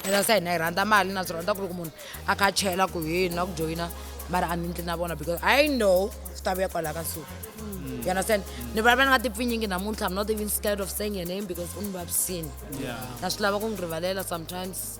ena se hina hi rhandza mali na swi rhandza ku ri ku munhu a kha chela ku hini na ku joyina mara a ni ndli na vona because i know swi ta vuya kwalaha ka suku mm. you understand ni vulavula ni nga ti pfinyingi namuntlha i'm not even scared of saying your name because u ni vavisini na swi lava ku n'wi rivalela sometimes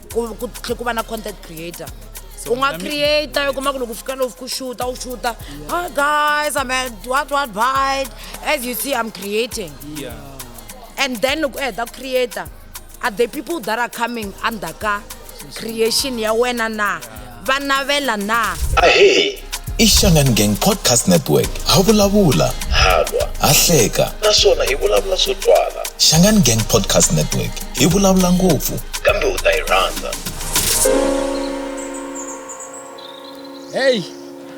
ku ku tlhe ku va na content creator u nga creator u kuma ku loko u fika loku ku xuta u xuta oh guys i'm at what what bite as you see i'm creating Yeah. and then loko u heta ku creator are the people that are coming under ka creation ya wena na va navela na? Ahee! I Xangani Gang Podcast Network. Ha vulavula, ha lwa, ha hleka naswona hi vulavula swo twala. Xangani Gang Podcast Network. Hi vulavula ngopfu. Kambe u ta yi rhandza. Hey!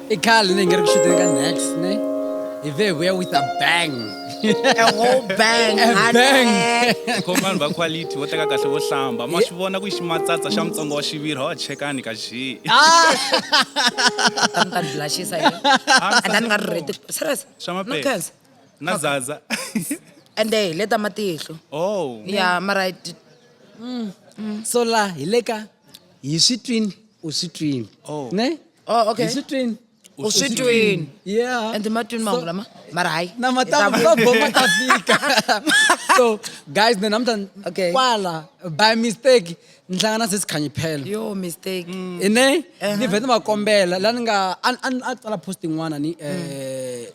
i khale ni hi nga ri ku xuteni ka next ne hi ve hi vuya with a bang a whole bang A honey. bang. khoma vanhu va quality vo teka kahle vo hlamba ma swi vona ku i ximatsatsa xa mutsongo wa xiviri hawa chekani ka xi Sa mi ta ni blushisa yini? Ah, And then ni nga ri ready. Serious? Swa maphepha. No cancer. na zaza And then hi le ta matihlo. oh Yeah, mara I did- so la hi le ka hi swi twini u swi twini Oh. ne oh okay uswitwini uswitwini yeah and matwini mahungu lama mara hayi na matama va boma ta fika so guys ni namuntlha okay. kwala by mistake ni hlangana na sesi khanyi phela yo mistake mm. ine ni uh-huh. vhe ni va kombela la ni nga a tsala post yin'wana ni um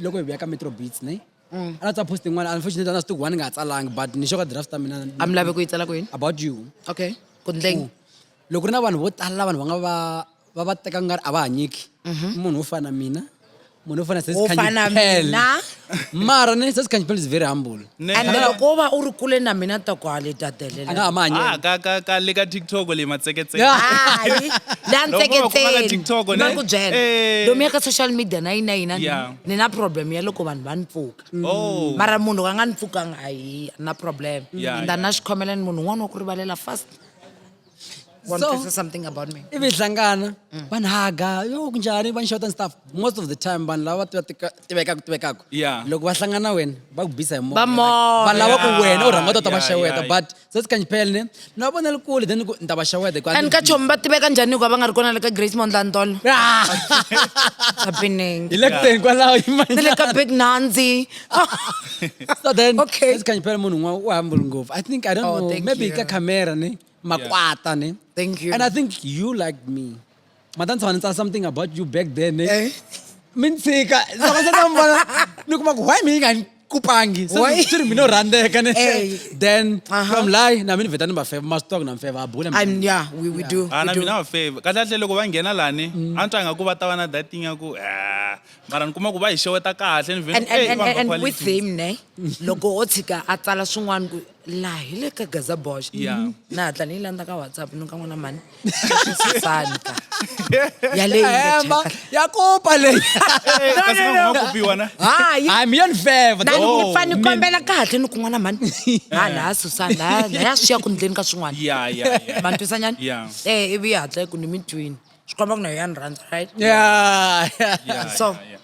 loko hi vuya ka metro beats ne mm. a na tsala post yin'wana unfortunately a na swi tiku wani nga ha tsalangi but ni xo ka draft ta mina a mi lave ku yi tsala kwini about you okay ku ndleng mm. loko ri na vanhu vo tala vanhu va nga va va va teka nga ri a va hanyeki mhm. munhu wo fana na mina munhu wo fana sesikhanyipele mara ni sesikhanyipele is very humble and loko wo va u ri kule na mina toko hale tatelela a nga ha ma hanyela ah, ka ka ka le ka tiktok le matseketseke hayi la ntseketseni ma ku byela eh. lomu ya ka social media na yina yina ni na problem ya loko vanhu va ni pfuka oh. mara munhu ka nga ni pfukanga hayi na problem and a na xikhomela ni munhu un'wana wa ku rivalela fast want so, to say something about me ivi hlangana mm. vanhu haga yo kunjhani va nxota stuff most of the time vanhu lava va tivekaku tivekaku loko va hlangana wena va ku bisa hi moyavanhu lava ku wena u rhanga u ta va xeweta but se si kanjipele ne ni va vonela kule then ni ta va xeweta and ka chomi va tiveka njhani hikuva va nga ri kona le ka grace mondlandolo ah! hi le kuteni kwalaho ni le ka big nanzi so then okay. let's kanyipela munhu un'wana u humble ngopfu i think i don't oh, know maybe ka camera ne makwata ne thank you and i think you like me mata ni tshama ni tsala something about you back then ne eh? mi ni tshika loko se ta mi vona ni kuma ku why mi yi nga ni kupangi swi ri mina u rhandzeka ne eh. then uh-huh. from lie na mi ni vheta ni va feva maswi tonga na mi feva a bula and yeah we we do ana ah, mina va feva kahle kahle loko va nghena lani mm. a ni twanga ku va ta va na dating ya ku eh, mara ni kuma ku va hi xeweta kahle ni and, and, and, and, and with him ne loko o tshika a tsala swin'wana ku laha hi le ka gaza bosh yeah. Mm-hmm. na hatla ni yi landza ka whatsapp ni ka n'wana mani santa yaleyihemba ya kopa leyi hayi mi yoni feva ni oh, fane ni kombela kahle ni kun'wana mani ha laha susana laha ya swi ya ku ndleni ka swin'wana mantwisanyana um eh, ivi yi hatla yi ku ni mi twini swi komba ku na yoyani rhandza right yeah, yeah. yeah, so yeah, yeah.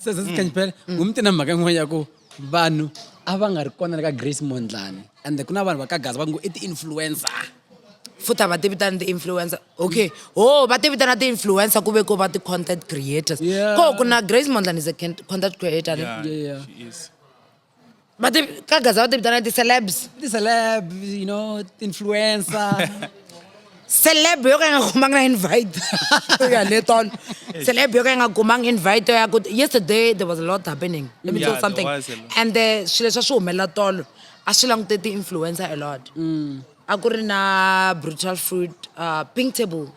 so sesi kanjipela mm. mm. umti na mhaka yin'wana ya ku vanhu a va nga ri kona le ka grace mondlani and ku na vanhu va ka gaza va ngo i ti-influencer futhi va tivitana ti-influencer okay ho oh, va tivitana ti-influencer ku ve ko va ti-content creators ko ku na grace mondlani is a content creator yeah, yeah, yeah. She is. va ti ka gaza va ti vitana ti-celebs ti-celeb you know ti-influencer celeb yo ka yi nga kumanga na invite ya le tolo celeb yo ka yi nga kumanga invite yo ya ku yesterday there was a lot happening let me Yeah, tell there something was a lot. and the swilo leswi a swi humelela tolo a swi langute ti-influencer a lot a ku ri na brutal fruit uh, pink table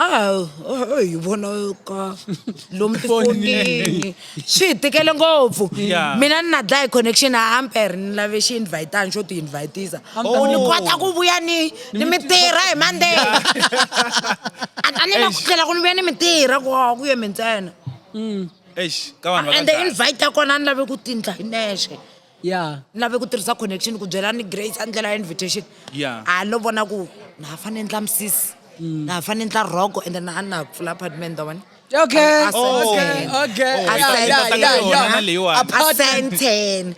a hi vona ka lomu tifonini swi hi tikele ngopfu mina ni na dlaya hi connection a ampere ni lave xi invitani xo ti invitisa ku ni kota ku vuya ni ni mi tirha hi monday a ta ni la ku tlhela ku ni vuya ni mi tirha ku a ku ye mi ntsena mm. and the invite ya kona a ni lave ku tindla hi nexe ya ni lave ku tirhisa connection ku byela ni grace a ndlela ya invitation ya a lo vona ku na ha fane ndla misisi mm. na ha fane ndla roko and then a na pfula apartment wa vona Okay. Oh. Okay. Okay.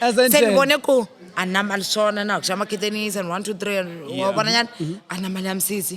Oh, sendibone ku anamali swona na ku xa makheteni sen one two three wa vonanyana anamali ya misisi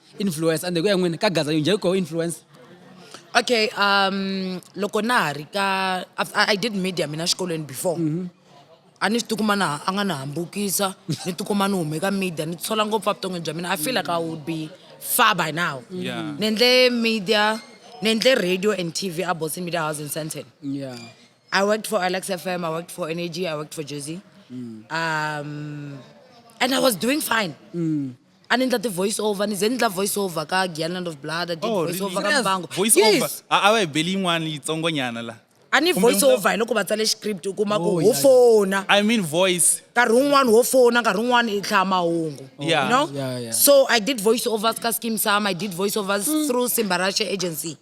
influence ande ku ya n'wini ka gaza yinjhe ko influence okay um loko na ha ri ka i did media mina xikolweni before mm -hmm. a ni swi tikuma na a nga ni hambukisa ni tikuma ni hume ka media ni tisola ngopfu a vuton'wini bya mina i feel like i would be far by now yeah. ni endle media ni endle radio and tv a boston media house in santon yeah. i worked for alex fm i worked for energy i worked for jersey mm. um, and i was doing fine mm. a ni ndla ti-voice over ni ze ni ndla voice over ka gianland of blood a did Oh, voice really? over ka Serious? mbango voice over yes a a va hi beli yin'wana yitsongonyana la a ni Kumbe voice mi nga- over hi loko va tsale script u kuma ku Oh, ho yeah. fona i mean voice nkarhi wun'wani ho fona nkarhi wun'wani i hlaya mahungu Yeah. you know Yeah, yeah. so i did voice overs ka skim sam i did voice overs through simbarashe agency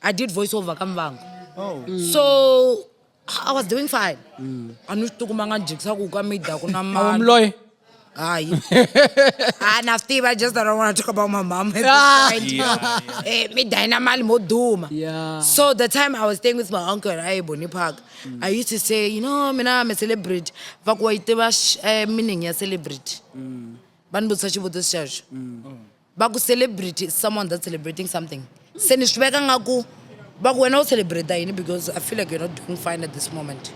i did voice over ka mbango oh so I was doing fine. Mm. A ni swi tikuma nga jikisa ku ka mi dya ku na mali. Umloyi. Hayi. Ah na swi tiva just that I don't want to talk about my mom. At ah. this point. Eh mi dya na mali mo duma. Yeah. So the time I was staying with my uncle at Ayeboni Park, mm. I used to say, you know, mina I'm a celebrity. Va ku wa yi tiva eh, meaning ya celebrity. Mm. Va ni vutisa xivutiso xexo. Mm. va ku celebrity someone that celebrating something se ni swi veka nga ku va ku wena u celebrate yini because i feel like you're not doing fine at this moment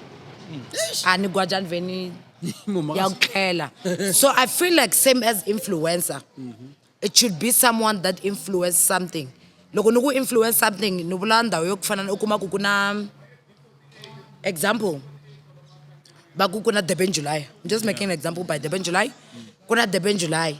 a ni gwajani veni ya ku tlhela so i feel like same as influencer it should be someone that influence something loko ni ku influence something ni vula ndhawu yo ku fana u kuma ku ku na example va ku ku na durban july I'm just making an example by durban july ku na durban july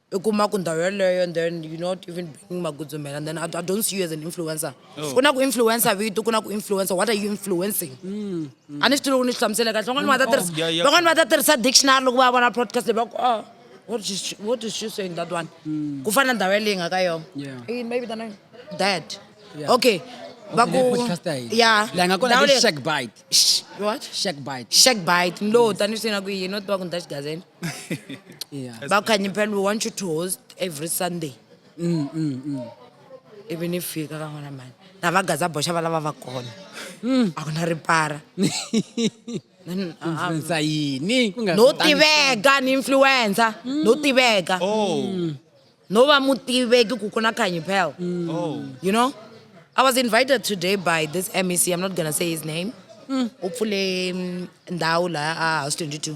i kuma ku ndhawu yeleyo and then you not even bringing magudzumela and then I, I don't see you as an influencer oh. ku na ku influencer vito ku na ku influencer what are you influencing mm, mm. a ni swi tivi loko ni swi hlamusele kahle van'wani va ta oh, tirhisa van'wani va ta tirhisa dictionary loko va vona podcast leyi va ku oh what is she, what is she saying that one mm. ku fana ndhawu yeleyi nga ka yona maybe than dad yeah. okay ya ndhawu leyi shack bite what shack bite shack bite ni lo tani swi na ku yini no tiva ku ni ta xigazeni yeah. bakhanyi phela we want you to host every sunday mm, mm, mm. ivi ni fika ka n'wana mani na va gaza boxa va lava va kona mm. a ku na ripara influencer yini ku nga no tiveka ni influencer no mm. tiveka oh. mm. no va mutiveki ku ku na khanyi phela mm. oh. you know i was invited today by this mec i'm not gonna say his name u pfule ndhawu laha a house 22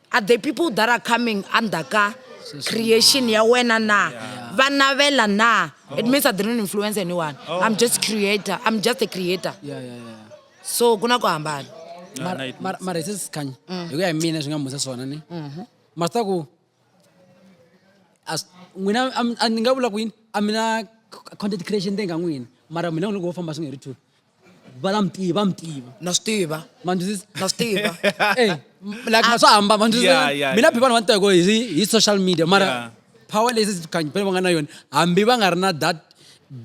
Are the people that are coming under ka creation ya wena na va navela na it means i didn't influence anyone oh. i'm just creator i'm just a creator yeah, yeah, yeah. so ku na ku hambana mara hi se sikhanya mm. hi ku ya hi mina swi nga musa swona ni mm-hmm. masta ku n'wina ni nga vula ku yini a mina content creation te nga n'wina mara mina u ni ku wo famba swi nga ri two va la mi tiva va mi tiva na swi tiva ma ndzi twisisa na swi tiva Eh, Like a ma- swa hamba ma ndzi twisisa? Yeah, yeah, mina yeah. phi vanhu va ni teko hi hi social media mara Yeah. power leyi se campaign va nga na yona hambi va nga ri na that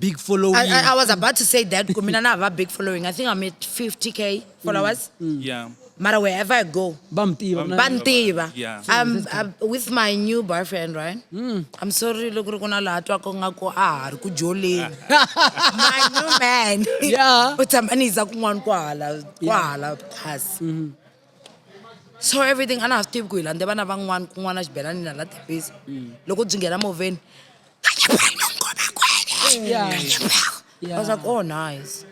big following I, I, I was about to say that kumina na hava big following i think i'm at 50k followers yeah Mara wherever I go, va mi tiva va ni tiva Yeah. I'm, I'm with my new boyfriend right Hmm. i'm sorry loko ri ku na laha twaka nga ku a ha ri ku joleni my new man Yeah. u tshama ni yisa kun'wana kwahala kwahala phasi Mm-hmm. so everything a na ha swi tivi ku hi landze vana van'wana kun'wana xibelani na la tepisi Mm. loko byi nghena movheni Yeah. Yeah. I was like, oh, nice.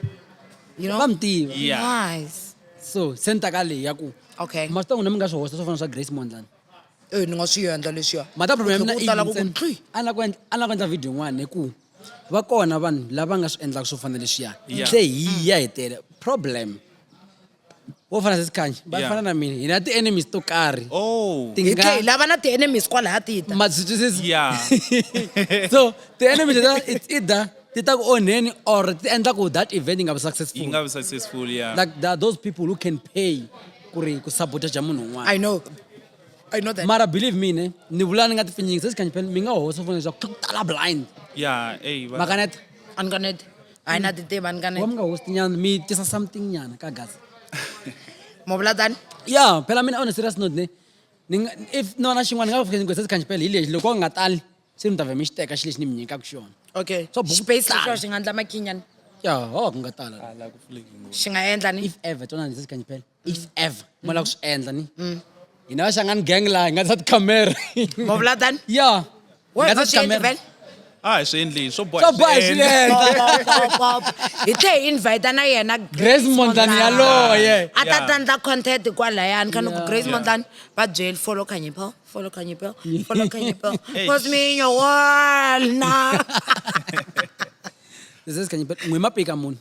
You know? Vamtiva. Yeah. Nice. So, senta ka leyi ya ku Okay. ma swi ta n'wina mi nga swi hosta swo fana swa grace mondlani Eh, ni nga swi endla leswiya. mhaka problem ya mina Ku tala ku ku yini? ntli. a ni la ku endla- a ni la ku endla video yin'wana hi ku va kona vanhu lava nga swi endlaka swo fana leswiya Yeah. se hi ya hetele problem vo fana sesikhanyi va Yeah. fana na mina hi na ti-enemies to karhi oh ti hi nga tlhe hi lava na ti-enemies kwalaya ti ta matswitswisi Yeah. so ti-enemies leta it's either ti ta ku onheni or ti endla ku that event yi nga vi yi successful nga vi successful yeah like there are those people who can pay ku ri ku sabotaja munhu un'wana i know i know that mara believe me ne ni vula ni nga ti pfinyingi sesikhanyi phela mi nga hosa fona leswaku ku tala blind yeah hey va- makaneta a ni kanete hayi na titiva ni ka ni wa mi nga hosti nyana mi tisa something nyana ka gaza mo vula tani ya phela mina on a serious note ne ni nga- if nona xin'wana ni nga fika ni gwesa sikhanjipele hi lexi loko a nga tali se mi ta vhe mi xi teka xi lexi ni mi nyikaka xona okay Swa buku space tala. lexo xi nga ndla makhinyana ya ho ku nga tala ala ku pfuleki ngopfu xi nga endla ni if ever tona ndzi sikhanjipele if mm. ever mu lava ku swi endla ni mm. hina va xangani gang laha hi nga ta tikhamera ma vula tani ya hi nga ta tikhamera a hi swi endli swo boha hi swi endla hi tlhe hi invite na yena grace mondlani yaloye a ta tandla content kwalayani kha ni ku grace mondlani va byeli follow khanyipho follow khanyipho follow khanyipho cause me in your world na this is khanyipho n'wi mapika munhu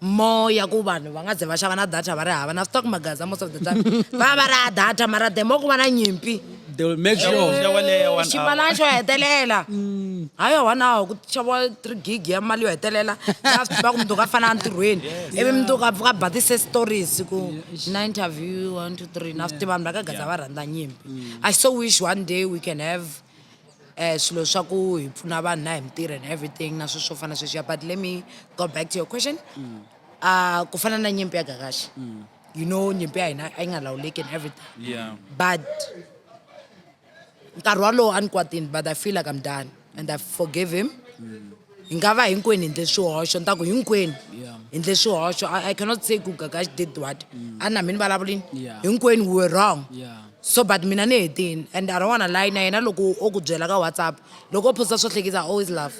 more ya ku vanhu va nga ze va xava na data va ri hava na stock magaza most of the time va va ri ha data mara the more ku va na nyimpi they will make sure Yo, yo, leya one hour. ximalana xo hetelela ha yo one hour ku xaviwa three gig ya mali yo hetelela after va ku mundzuku a fana entirhweni ivi mundzuku a pfuka a ba ti-set stories ku na interview one two three na swi tiva vanhu va ka gaza va rhandza nyimpi i so wish one day we can have um swilo swa ku hi pfuna vanhu na hi mintirho and everything na swilo swo fana sweswiya but let me go back to your question mm. uh, ku fana na nyimpi ya gagaxi mm. you know nyimpi ya hina a yi nga lawuleki and everything yeah. but nkarhi walowo a ni kwatini but i feel like i'm done and i forgive him mm. hi nga va hinkwenu hi ndle swihoxo ni ta ku hinkwenu hi ndle swihoxo i cannot say ku gagaxi did what mm. a na mi ni vulavulini hinkwenu we were wrong so but mina ni hetini and i don't wanna lie na yena loko o ku byela ka whatsapp loko o phosa swo hlekisa always love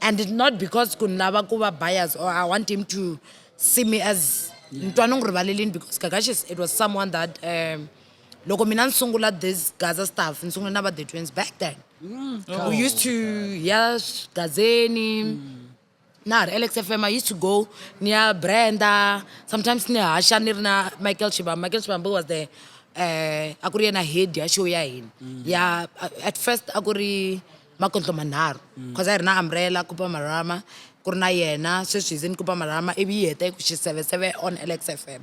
and not because ku ni lava ku va bias or i want him to see me as ni twa ni n'wi rivalelini because gagaxi it was someone that um loko mina ni sungula this gaza stuff ni sungule na va the twins back then Mm. Oh, we used to ya gazeni mm. na ha ri alex f m i used to go ni ya brenda sometimes ni haxa ni ri na michael shibam michael shibambo was the um a ku ri yena head ya show ya hina mm. ya at first a ku ri makontlo manharhu because a hi ri na umbrella kupa marama ku ri na yena sweswi hi ze ni kupa marama ivi yi heta yi ku xiseveseve on alex f m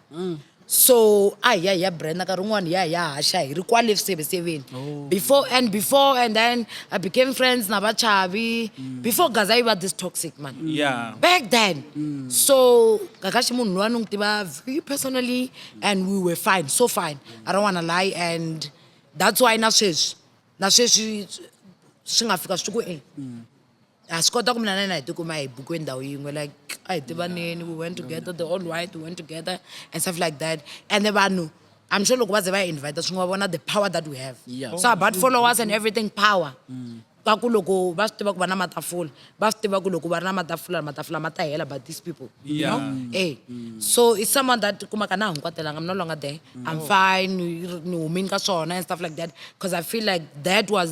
so a hi ya hi ya brand nkarhi wun'wana hi ya hi ya haxa hi ri kwale swiseveseveni oh. before and before and then i became friends na vachavi mm. before gaza yi va this toxic man mm. yeah. back then mm. so kakaxi munhu lowa ni n'wi tiva very personally and we were fine so fine i don't wanna lie and that's why na sweswi na sweswi swi nga fika swi ku e ha swi kota ku mina na yena hi tikuma hi bukwe ndhawu yin'we like a hi tivaneni we went together the all white we went together and stuff like that ende vanhu i'm sure loko va ze va hi invite swi nga vona the power that we have Yeah. so about followers and everything power ka ku loko va swi tiva ku va na matafula va swi tiva ku loko va ri na matafula matafula ma ta hela but these people you Yeah. know eh so it's someone that kumaka na ha n'wi kwatelanga i'm no longer there i'm fine ni ni humini ka swona and stuff like that because i feel like that was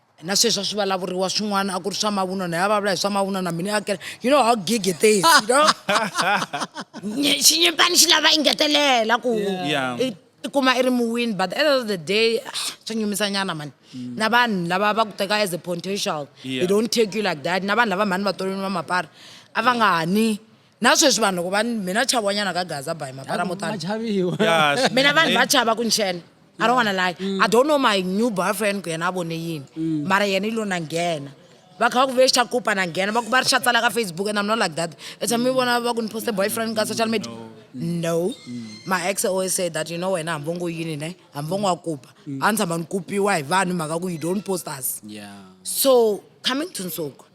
na sweswi a swi vulavuriwa swin'wana a ku ri swa mavunwa na ya vulavula hi swa mavunwa na mina akela you know how gig it is you know xinyimpani xi lava ingetelela ku i kuma i ri muwini but end of the day ah, swa nyumisa nyana mani mm. na vanhu lava va ku teka as a potential they don't take you like that na vanhu lava mhani va tolweni va mapara a va nga hani na sweswi vanhu loko va mi na chavanyana ka gaza by mapara mo tani mina vanhu va chava ku nxene i don't wanna lie mm. i don't know my new boyfriend ku yena a vone yini mm. mara yena i lo na nghena va kha va ku vexa kupa na nghena va ku va ri xatsala ka facebook and i'm not like that i tshame mi vona va ku ni poste boyfriend ka social media no mm. my ex always say that you know wena hambi ngo yini ne hambi ngo kupa a ni tshama ni kupiwa hi vanhu mhaka ku you don't post us so coming to nsuku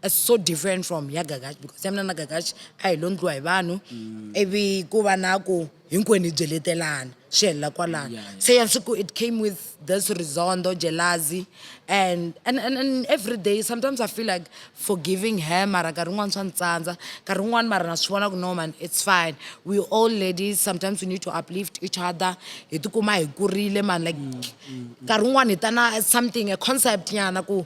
It's so different from ya Gagash because ya mina na Gagash a hi lo ndliwa hi vanhu mm. ivi ku va na ku hinkwenu hi byeletelana swi helela kwalano yeah, yeah. se ya siku it came with this rizondo jelazi and, and, and, and every day sometimes i feel like forgiving her mara nkarhi un'wana swa ni tsandza nkarhi un'wana mara na swi vona ku no man it's fine we all ladies sometimes we need to uplift each other hi tikuma hi kurile man like mm, mm, mm. nkarhi un'wana hi ta na something a concept nyana ku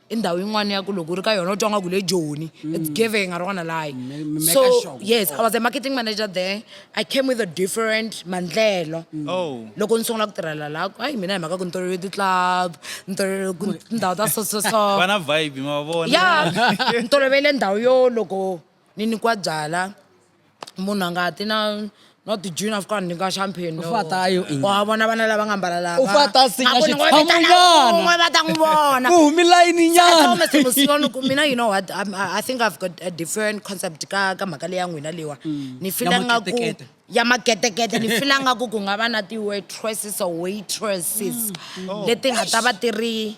i ndhawu yin'wana ya ku loko u ri ka yona u twa nga ku le joni it's mm. giving i don't wanna lie so yes i was a marketing manager there i came with a different mandlelo mm. oh. loko ni sungula ku tirhela la hayi mina hi mhaka ku ni tolovele ti-club ni tolovele ku tindhawu ta so so so ya ni tolovele ndhawu yo loko ni nyikiwa byala munhu a nga ti na no tijini a fika a nyika champagne no. Ufata ayo ini. wa vona vana lava nga mbala lava Ufata a sinya A ku ni ngo xitshamo vitana nyana. un'we va ta n'wi vona ku humi layini I told nyana Mr. Musiwa ni ku mina you know what I'm- I, I think I've got a different concept ka ka mhaka leya n'wina leyiwa ni fila Ya nga ku maketekete. ya maketekete ni fila nga ku ku nga va na ti-waitresses or waitresses leti nga ta va ti ri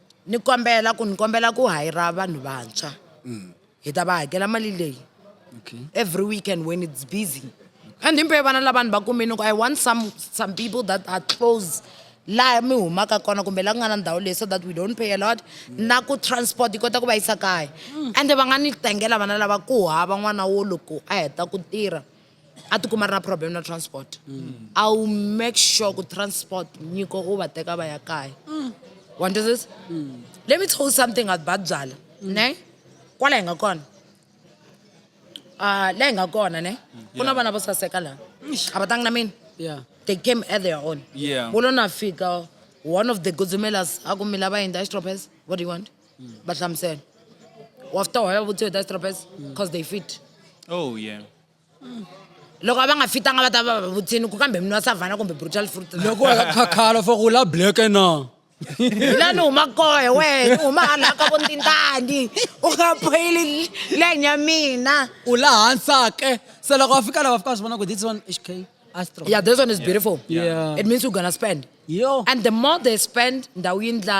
ni kombela ku ni kombela ku hayira vanhu vantshwa mm. hi ta va hakela mali leyi okay. every weekend when it's busy and himpe vana lava ni va kumini ku i want some, some people that are close laha mi humaka kona kumbe laha ku nga na ndhawu leyi so that we don't pay a lot na ku transport yi kota ku va yisa kaya mm. ende va nga ni tengela vana lava ku hava n'wana wo loko a heta ku tirha a tikuma ri na problem na transport mm. i will make sure ku transport nyiko u va teka va ya kaya mm. wa ndizisa mm. let me tell you something about babyala mm. ne kwala hi nga kona uh, la hi nga kona ne mm. ku na vana vo saseka laha a va tangi na mina yeah. they came at their own yeah. wo lo na fika one of the gudzumelas a ku mi lava yini distropes what do you want mm. va hlamusela wafter waya vutiwe distropes because mm. they fit oh yeah loko a va nga fitanga va ta va va vutsini ku kambe mini wa savana kumbe brutal fruit loko wa khakhala for ku la black na la ni huma kohe wena ni huma hala ka vo ntintani u nga phoyili lane ya mina u la hansake se loko va fika lava fika va swi vona ku this one hk astro yeah this one is beautiful Yeah. it means you're gonna spend yo and the more they spend ndhawu yi ndla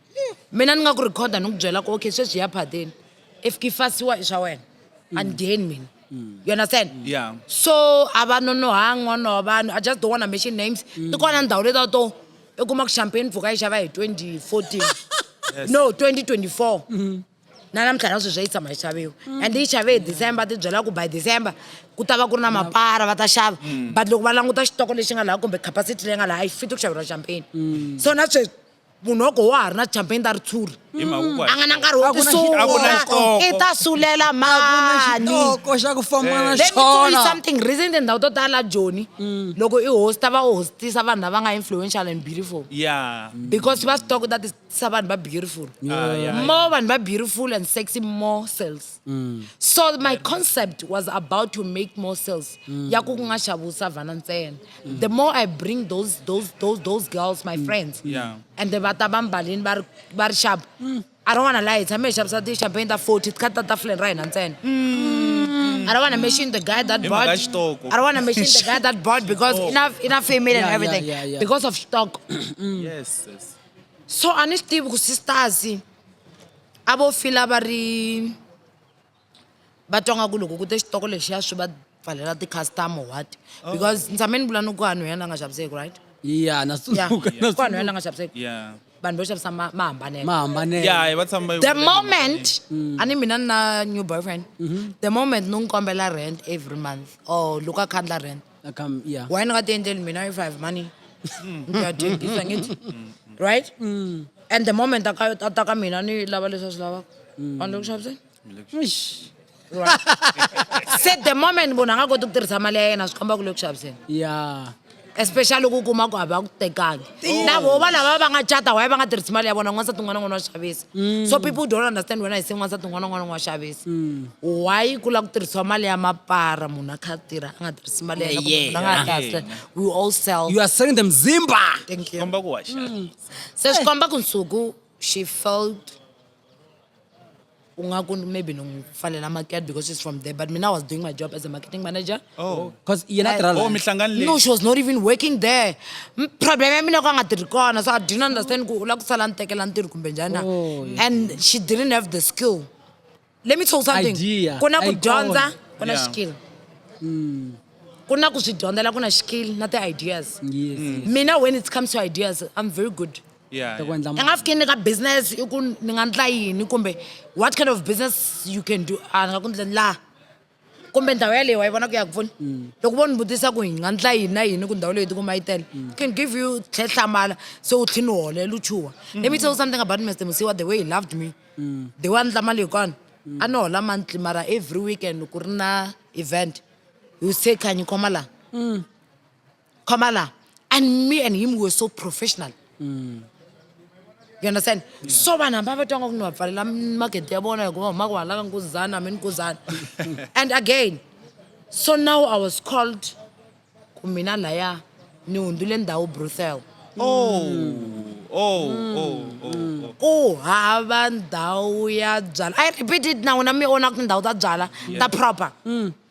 mina ni nga ku rhikhoda ni ku byela ku okay sweswi ya phadeni if ki fasiwa i swa wena mm. a ni dyeni mina mm. you understand yeah. so a va nonohangi n'wana wa vanhu i just don't wanna mention names mm. ti kona ndhawu leta to i kuma ku champagne mpfhuka yi xava hi 2014 no 2024 mm-hmm. na namuntlha na sweswi yi tshama yi xaviwa mm. and yi xave hi december ti byela ku by december ku ta va ku ri na mapara va ta xava but loko va languta xitoko lexi nga laha kumbe capacity leyi nga laha a yi fiti ku xaveriwa champagne so na sweswi munhu wa ku wa ha ri na champagne ta ritshuri hi mhaka ku a nga na nkarhi wo A ku na xi- a ku na tisula xitoko. i ta sulela mani xitoko xa ku famba na Let me tell you xona something reason tindhawu to tala joni loko i hosta va u hostisa vanhu lava nga influential and beautiful ya because va swi tiva ku ta tisa vanhu va beautiful Ah, ya, ya. more vanhu va beautiful and sexy more sales so my concept was about to make more sales ya ku ku nga xaviwi savhana ntsena mm. the more i bring those those those those girls my mm. friends yeah. and then vata va mbalini va ri va ri xapu mm. i don't want to lie hi tshame hi xavisa ti-champagne ta forty ti kha ti ta tafuleni ra hina ntsena I don't want to mention the guy that bought. I don't want to mention the guy that bought because enough, enough female and everything yeah, yeah, yeah. because of stock. yes, yes. So honestly, because sisters, I will feel about va twa nga ku loko ku te xitoko lexiya swi va pfalela ti-custom or what oh. because ni tshame ni vula ni ku vanhu ya la nga xaviseki right ya na tsundzuka na ku vanhu ya la nga xaviseki yeah vanhu vo xavisa ma ma hambaneke ma hambaneke yeah va tshama va yi the vula moment mm. a ni mina ni na new boyfriend mm-hmm. the moment ni n'wi kombela rent every month or loko a khandla rent Come, yeah. why ni nga ti endleli mina if i have money mm. ni ya dyekisa ngithi mm. right and the moment a ka- a ta ka mina ni lava leswi a swi lavaka a ni le ku xaviseni se the moment munhu a nga koti ku tirhisa mali ya yena swi komba ku le ku xaviseni ya especially ku kuma ku hava ku tekangi na vo va lava va nga cata waye va nga tirhisi mali ya vona n'wansati un'wana n'wana wa xavisa mm. so people don't understand wena hi se n'wansati un'wana n'wana wa xavisa mm. why ku lava ku tirhisiwa mali ya mapara munhu a kha tirha a nga tirhisi mali ya yena a nga kahle we all sell you are selling them zimba thank you komba ku wa mm. se swi komba ku nsuku she felt ungaku maybe nongifanela market because she's from there but mina i was doing my job as a marketing manager oh because yena tirha oh mihlangano leyi no she was not even working there problem ya mina ku nga tirhi kona so i didn't understand ku u lava ku sala ni tekela ntirho kumbe njhani na oh, and she didn't have the skill let me tell something ku na ku dyondza ku na skill hmm. ku na ku swi dyondzela ku na skill na ti-ideas mm. mina when it comes to ideas i'm very good Yeah, ta ku yeah. endla ni nga fiki ni ka business i ku ni nga ndla yini kumbe what kind of business you can do a ni nga ku ndleni laha kumbe ndhawu yaleyo wa yi vona ku ya ku pfuni mm. loko vo ni vutisa ku hi nga ndla yini na yini ku ndhawu leyi tikuma yi tele mm. can give you tlhe hlamala se u tlhi ni holela u chuha mm. let me tell you something about mr musiwa the way he loved me the way a ndla mali hikona a ni hola monthly mara every weekend ku ri na event you say khanyi khoma laha Come on now. And me and him were so professional. Mm. You understand? Yeah. So vanhu hamba va twanga ku ni va pfalela magede ya vona hikuva humaka wa halaka nkuzana hambi nkuzana and again so now i was called ku mina laya ni hundzule ndhawu bruthel oh. Mm. Oh, mm. oh, oh, oh. ku hava ndhawu ya byala i repeat it now na mi ona ku tindhawu ta byala ta proper mm.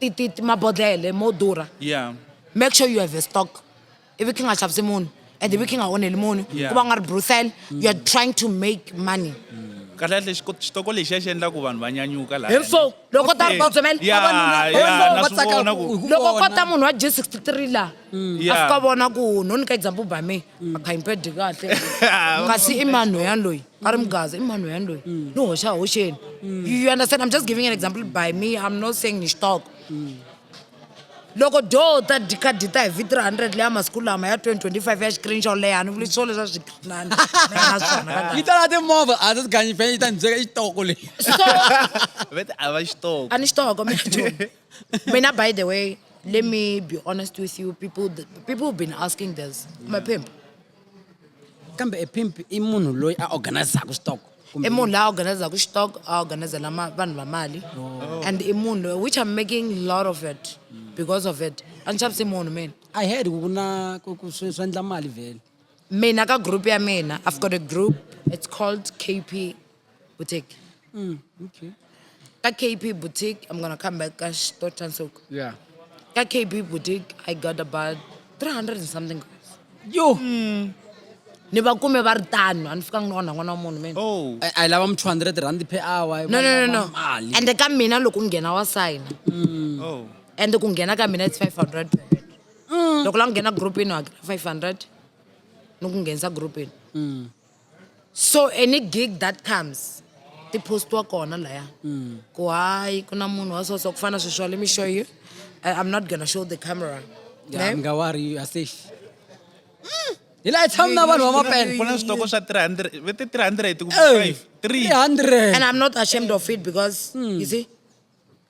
ti, ti, ti mabodlele mo durha yeah make sure you have a stock ivi khe nga xavisi munhu and ivi khe nga onheli munhu Yeah. ku va u nga ri bruthel you are trying to make money kahlekahle xiko- xitoko lexiya xi endla ku vanhu va nyanyuka laha Hinso, loko ta ri batsomela Yeah, vavanuna yeah, hinso na va swi tsaka vona ku- ku- loko vona. kota munhu wa g 63 laha a Yeah. fika vona ku no nyika example by me akhayimpedi mm. kahle kasi i mani loyani loyi a ri mugaza i mani loyani loyi mm. ni hoxa hoxeni mm. you understand i'm just giving an example by me i'm not saying ni xitoko loko do ta dikhadi ta hi vi 300 leya masiku lama ya 2025 ya xikrini xo leha ni vuli swo leswa swiyi tala timovha a ti ganyi fene yi ta ni byeka i xitoko leyi a ni xitoko Mina, by the way, let me be honest with you, people, people have been asking this. I'm a pimp. kambe e pimp i munhu loyi a organizaka switoko i munhu la organizaka xitoko a organizela vanhu va mali oh. and i munhu loyi which i'm making lot of it because of it a ni xavisi munhu mina i heard ku na swi endla mali vele mina ka group ya mina i've got a group it's called kp boutique mm, okay. ka kp boutique i'm gonna come back ka store transok yeah ka kp boutique i got about 300 and something girls yo mm. ni va kume va ri tano a ni fikanga ni onha n'wana wa munhu mina oh. a yi lava mu 200 rand per hour no no no no and ka mina loko u nghena wa sayina mm. oh. and ku nghena ka mina it's 500 per head mm. loko la nghena groupini wa hakela 500 ni ku nghenisa groupini mm. so any gig that comes ti postiwa kona laya mm. ku hayi ku na munhu wa so so ku fana sweswi wa let me show you uh, i'm not gonna show the camera yeah, nga worry you are safe mm. hi laha tshami na vanhu va mapena switoko swa 300 vete 300 ku 5 300 and i'm not ashamed of it because mm. you see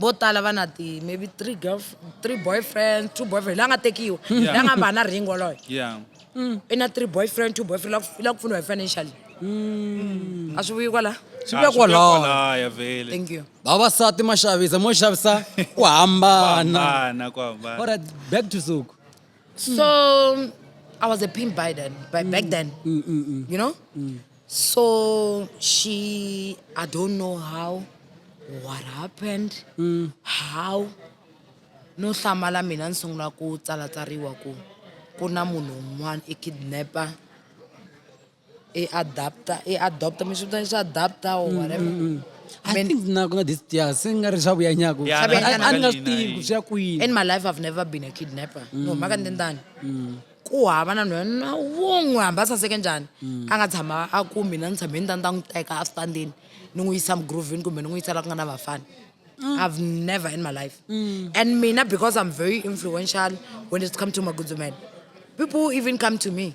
vo tala va na ti maybe three girl three boyfriend two boyfriend la nga tekiwa la nga hamba na ring woloyo yeah mm. i na three boyfriend two boyfriend i la ku pfuniwa hi financially mm. a swi vuyi kwala swi vuya ah, kwalaya vele thank you vavasati ma xavisa mo xavisa ku hambana back to suku So I was a pimp by then, by mm. back then. Mm, mm, mm. you know? Mm. So she, I don't know how, what happened, mm. how. No hlamala mina ni sungula ku tsalatsariwa ku ku na munhu un'wana i kidnapper i adapta i adopta mi swi vita swi adapta or mm, whatever mm, mm. I Men- think na kuna this yeah se nga ri swa vuya nyako Yeah, Sabe- na- a ni nga swi tivi ku swi ya kwini in my life i've never been a kidnapper no maka ni tindani ku hava na nhwana wun'we hambi a saseke njhani a nga tshama a ku mina ni tshame ni ta ni ta n'wi teka astandini ni n'wi yisa mugrovini kumbe ni n'wi yisa la ku nga na vafana i've never in my life and mina because i'm very influential when it come to magudzumela people even come to me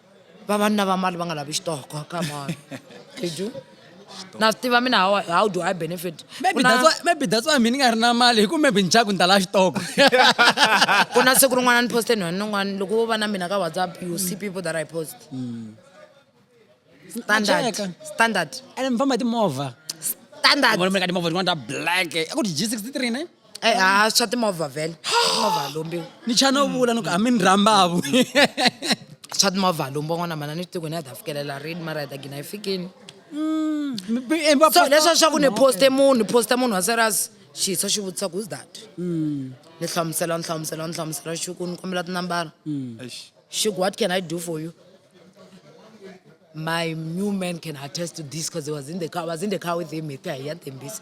vavanuna va mali va nga lavi xitoko come on did you na swi tiva mina how, how do i benefit maybe Ku na- that's why maybe that's why mina ni nga ri na mali hi ku maybe ni chaku ni ta la xitoko ku na siku rin'wana ni poste nhwana nin'wana loko wo va na mina ka whatsapp you see people that i post standard Cheka. standard and mi famba hi timovha standard vona mi ka timovha tin'wana ta black a ku ri g63 ne Eh, ah, swa timovha vhele timovha lombiwa ni cha no vula ni ku a mi ni rhambavu swa timovha lombiwa n'wana mana ni xitikweni ya ta fikelela rini mara ya ta gina yi fikini so leswa swa ku ni poste munhu ni posta munhu wa serious xiso xi vutisa ku is that ni hlamusela ni hlamusela ni hlamusela xi ku ni kombela tinambara xi ku what can i do for you my new man can attest to this because he was in the car I was in the car with him hi ta hi ya tembisa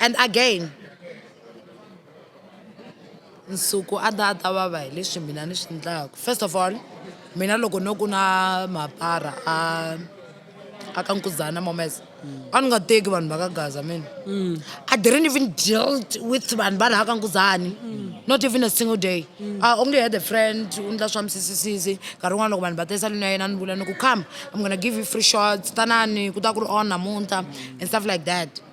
And again, Nsuku a ta a ta vava hi leswi mina ni swi endlaka. First of all, mina loko no ku na mapara a a ka Nkuzana Momese, a ni nga teki vanhu va ka Gaza mina. I didn't even deal with vanhu va laha ka Nkuzani, not even a single day. I only had a friend u endla swa misisisisi, nkarhi wun'wana loko vanhu va ta esalwini ya yena a ni vula ni ku come, I'm gonna give you free shots, tanani ku ta ku ri on namuntlha and stuff like that.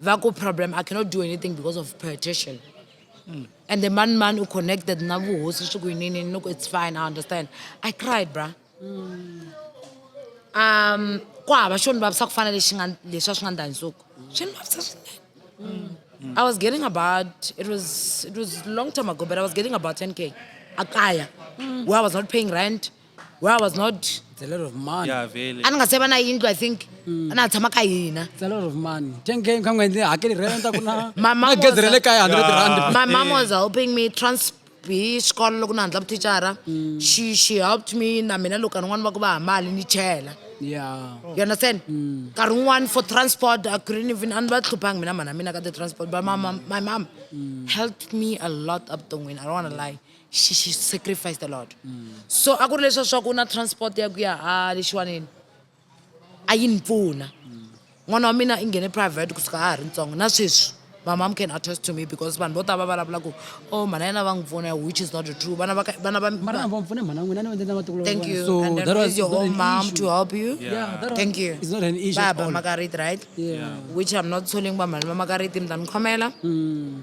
va ku problem i cannot do anything because of partition mm. and the man man u connected na vuhosi swi ku yinini ni ku it's fine i understand i cried bra mm. um ku hava xo ni vavisa ku fana lexi nga leswi a swi nga ndani nsuku swi ni vavisa swinene mm. mm. i was getting about it was it was long time ago but i was getting about 10 k akaya mm. where i was not paying rent where I was not It's a lot of money. ya vele a ni nga se va na yindlu i think a na ha tshama ka hina It's a lot of money. Ten K kha n'hweti hakeli rent a ku na My mom na gezi was ra le a- kaya 100 rand. my mom was helping me trans hi xikolo loko na handla vuthicara she she helped me na mina loko rin'wana va ku va ha mali ni chela Yeah. you understand nkarhi wun'wani for transport i couldn't even a ni va hluphangi mina mhana mina ka the transport but my mom, my mom helped me a lot evuton'wini i don't want to lie she, she sacrificed a lot mm. so a ku ri leswa swaku na transport ya ku ya a lexiwaneni a yi ni pfuna mm. n'wana wa mina i nghene private kusuka a ha ri ntsongo na sweswi my mom can attest to me because vanhu vo tala va vulavula ku o oh, mhana yena va n'wi pfuna which is not true vana va vana va mara va pfune mhana n'wina ni va endlela matiko thank you so and that was your own mom to help you yeah, yeah that thank you it's not an issue ba ba makariti right yeah which i'm not telling ba mhana ba makariti mi ta ni khomela mm.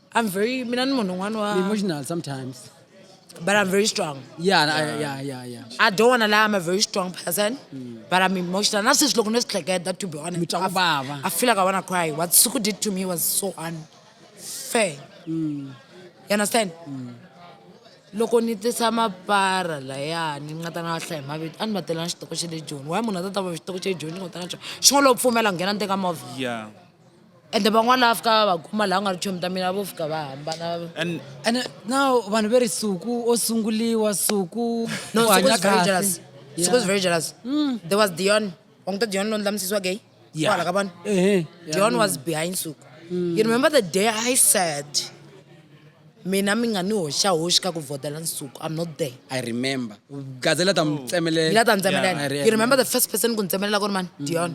I'm very mina ni munhu un'wana wa emotional sometimes but I'm very strong yeah yeah yeah yeah, yeah. I don't want to lie I'm a very strong person mm. but I'm emotional na sweswi loko ni swi hleketa to be honest I feel like I want to cry what Suku did to me was so unfair mm. you understand mm. loko ni tisa mapara laya ni nga ta na hlaya mavito a ni va tela na xitoko xa le joni wa munhu a ta ta va xitoko xa le joni ni nga ta na xona xin'wana lowu pfumela nghena ni teka movha yeah ende van'wana lava fika va va kuma laha nga ri chomi ta mina vo fika va hambana and ene na vanhu ve ri suku o sunguliwa suku no u hanya kahle suku is very jealous mm. there was dion wa n'wi ta dion lowu ndlamusisiwa gay yeah. kwala ka vanhu uh -huh. dion yeah. was behind suku mm. you remember the day i said Mina mi nga ni hoxahoxi ka ku vhotela Nsuku. I'm not there. I remember. Gazela ta mi tsemelela. Ngila ta ni tsemelela. Yeah, I re- You remember the first person ku ni tsemelela ku ri mani? Dion.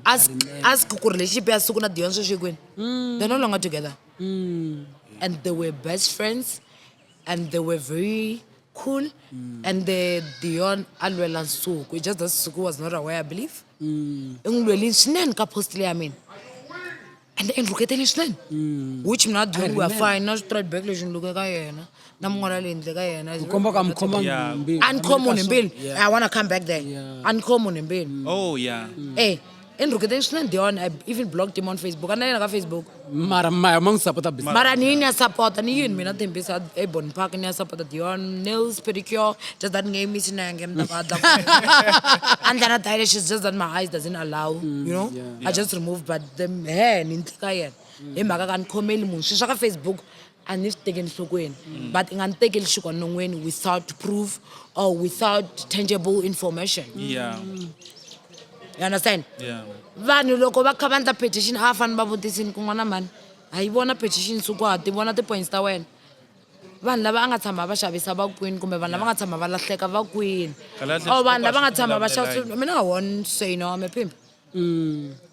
Ask, ask ku ri lexi ya Suku na Dion sweswi yi kwini? They're no longer together. And they were best friends and they were very cool. And the Dion a lwela Nsuku. It's just that Suku was not aware, I believe. I n'wi lwelini swinene ka post leyi ya mina. and and look at this man mm. which mina dulu we are fine na straight back leswi ni luke ka yena na mun'wana leyi ndle ka yena komba ka mkhoma mbili a ni khomo nembili i want to come back there a ni khomo nembili oh yeah mm. eh and look at this man Dion I even blocked him on Facebook and then on Facebook mara maya mang sapota business mara ni ni sapota ni yini mina thembisa ebon park ni sapota Dion nails pedicure just that name is na ngem da ba da and then I just that my eyes doesn't allow mm, you know I just removed but the hair ni ndzi ka yena hi mhaka ka ni khomeli munhu swilo swa ka facebook a ni swi tekeli nhlokweni mm. but i nga ni tekeli xikwa non'weni without proof or without tangible information yeah. Mm. you understand yeah. vanhu loko va kha va ndla petition a va fanele va vutisini ku n'wana mhani a yi vona petition suku ha ti vona ti-points ta wena vanhu lava a nga tshama va xavisa va kwini kumbe vanhu lava nga tshama va lahleka va kwini or vanhu lava nga tshama va xavisa mina i won't say no i'm a pimp mm.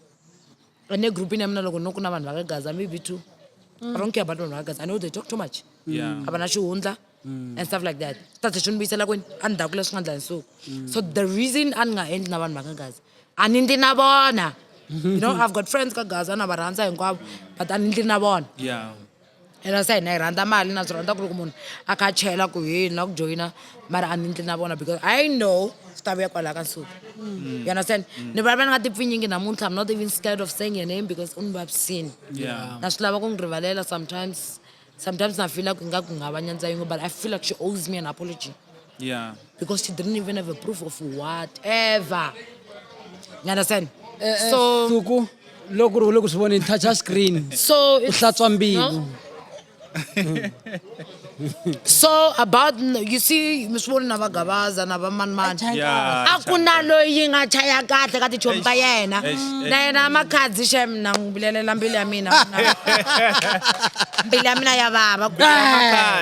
ane group ine mna loko no ku na vanhu vakagaza maybe two i don't care about vanhu vakagaza i know they talk too much Yeah. a va na xihundla and stuff like that tate swi ni vuyisela kwini a ni dakula swi nga ndla nsuku so the reason a ni nga endli na vanhu vakagaza a ni ndli na vona you know i've got friends ka gaza na va rhandza hinkwavo but a ni ndli na vona Yeah. ena se hina hi rhandza mali na swi rhandza ku loko munhu a kha a chela ku hi na ku joyina mara a ni ndli na vona because i know swi ta vuya kwalaha ka nsuku mm. you understand mm. ni vulavula ni nga tipfinyingi namuntlha i'm not even scared of saying your name because u ni vavisini na swi lava ku n'wi rivalela sometimes sometimes na feela ku nga ku nga va nyandza yin'we but i feel like she owes me an apology Yeah. Because she didn't even have a proof of whatever. You understand? Eh, eh, so Suku, loko ri loko swi vona touch a screen. So it's, hlatswa mbilu. so about you see mi swi voni na vagavaza na vamanimani a ku na loyi nga chaya kahle ka tichomi ta yena na yena makhadzi xem na n'wi vulelela mbilu ya mina mbilu ya mina ya vava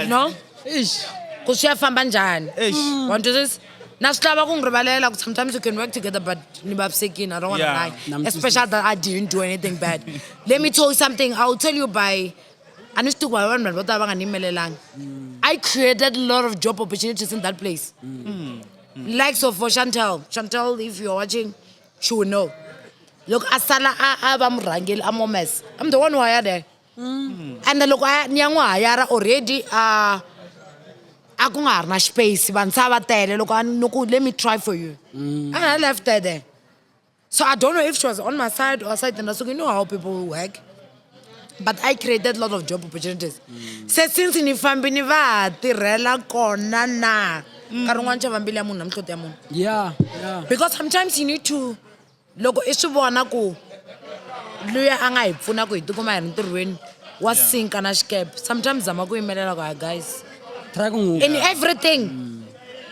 no ixi ku swi ya famba njhani mm. wa twisisa na swi lava ku n'wi rivalela ku sometimes you can work together but ni vavisekini i don't want to yeah. lie especially that i didn't do anything bad let me tell you something i will tell you by a ni swi tiku hi vanhu vanhu vo tala va nga ni yimelelanga mm. i created a lot of job opportunities in that place mm. Mm. mm. likes of for chantel chantel if you're watching she will know loko a sala a va murhangeli a momesa i'm the one who hired her Mm. ende loko a ni ya n'wi hayara already a a ku nga ha ri na space vantshwa va tele loko a ni ku let me try for you mm. and i left her there so i don't know if she was on my side or side and i said you know how people work but i created a lot of job opportunities mm. se since ni fambi ni va tirhela kona na nkarhi un'wana chavambili ya munhu na mihloti ya munhu yeah because sometimes you need to loko i swi vona ku luya a nga hi pfuna ku hi tikuma hi ri ntirhweni wa sinka na xikepe sometimes zama ku yimelela ku hi guys try ku n'wi in everything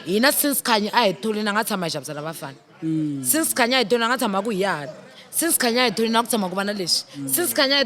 hina since khanyi a hi thuli na nga tshama hi xavisela vafana mm. since khanyi a hi thuli na nga tshama ku hi yahani since khanyi a hi thuli na ku tshama ku va na leswi since khanyi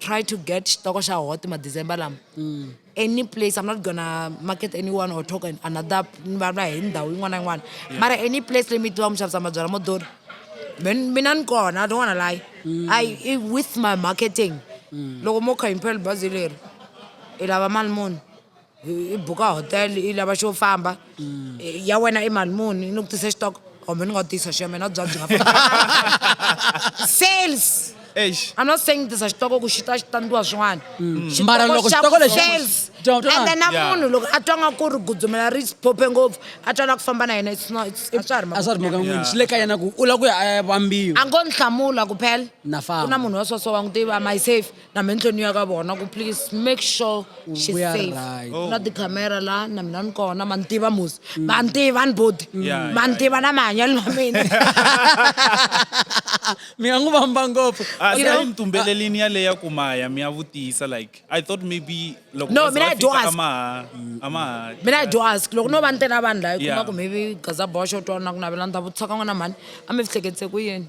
try to get xitoko xa hot madecember lama mm. any place i'm not gonna market anyone or talk another ni vulavula hi ndhawu yin'wana na yin'wana mara any place leyi mi tiva mi xavisa mabyala mo dori mina ni kona i don't wanna lie mm. i with my marketing mm. loko mo kha impel bazi leri i lava mali muni i buka hotel i lava xo famba mm. eh, ya wena i mali muni ni ku tise xitoko kumbe ni nga tisa xo mina bya byi nga sales Eish. I'm not saying this xitoko ku xi ta xi tandiwa swin'wana mm. mara loko xitoko lexi and then na munhu loko a twa nga ku ri gudzumela ri phophe ngopfu a twa la ku famba na yena a swa ha ri a swa ri mhaka n'wini xi le ka yena ku u la ku ya a ya vambiwa a ngo ni hlamula ku phela na famba ku na munhu wa sweswo wa n'wi tiva am i safe na mi endleni ya ka vona ku please make sure she's We are safe right. Oh. na tikhamera la na mina ni kona ma ni tiva musi ma ni tiva ni bodi Yeah, ma ni yeah, tiva na mahanyelo ma mina mi nga n'wi vamba ngopfu Ah, You know? swi ntumbelelini yaleya ku maya mi ya vutisa like i thought maybe loko No, va za mina va I do fika ask. a ma ha- a ma ha- mina i do ask loko no va ni tena vanhu la i Yeah. kuma ku maybe gaza boxo twana ku navela ni ta vutisa ka n'wana mhani a mi fihleketse ku yini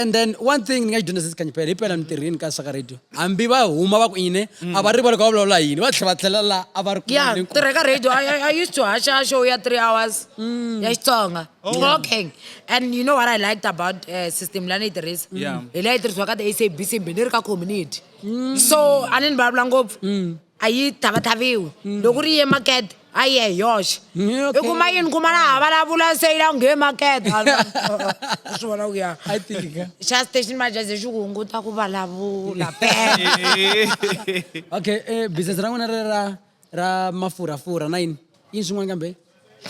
and then one thing ni nga xi dyondza sesi kanyipela hi pela mintirhweni ka saka radio hambi va huma va ku yini a va rivali ku va vulavula yini va tlhela va tlhela la a va ri ku ya voneni ku- tirheka radio I, I, I used to hasha show ya three hours Mm. ya xitsonga Oh. talking and you know what i liked about uh, system leyi a ni yi tirhisa Yeah. Mm. hi leyi tirhisiwaka the sabc mbe ni ri ka community so a ni ni vulavula ngopfu a yi thavathaviwi mm. loko ri ye makete a yi ye hi yoxe mm, i kuma yini kuma laha vulavula se yi la nghe makete swi vona ku ya xa station majaze xi ku hunguta ku vulavula okay eh, business ra n'wina ri ra ra mafurhafurha na yini yini swin'wana kambe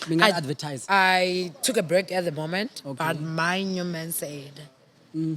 mi nga advertise i took a break at the moment okay. but my new man said mm.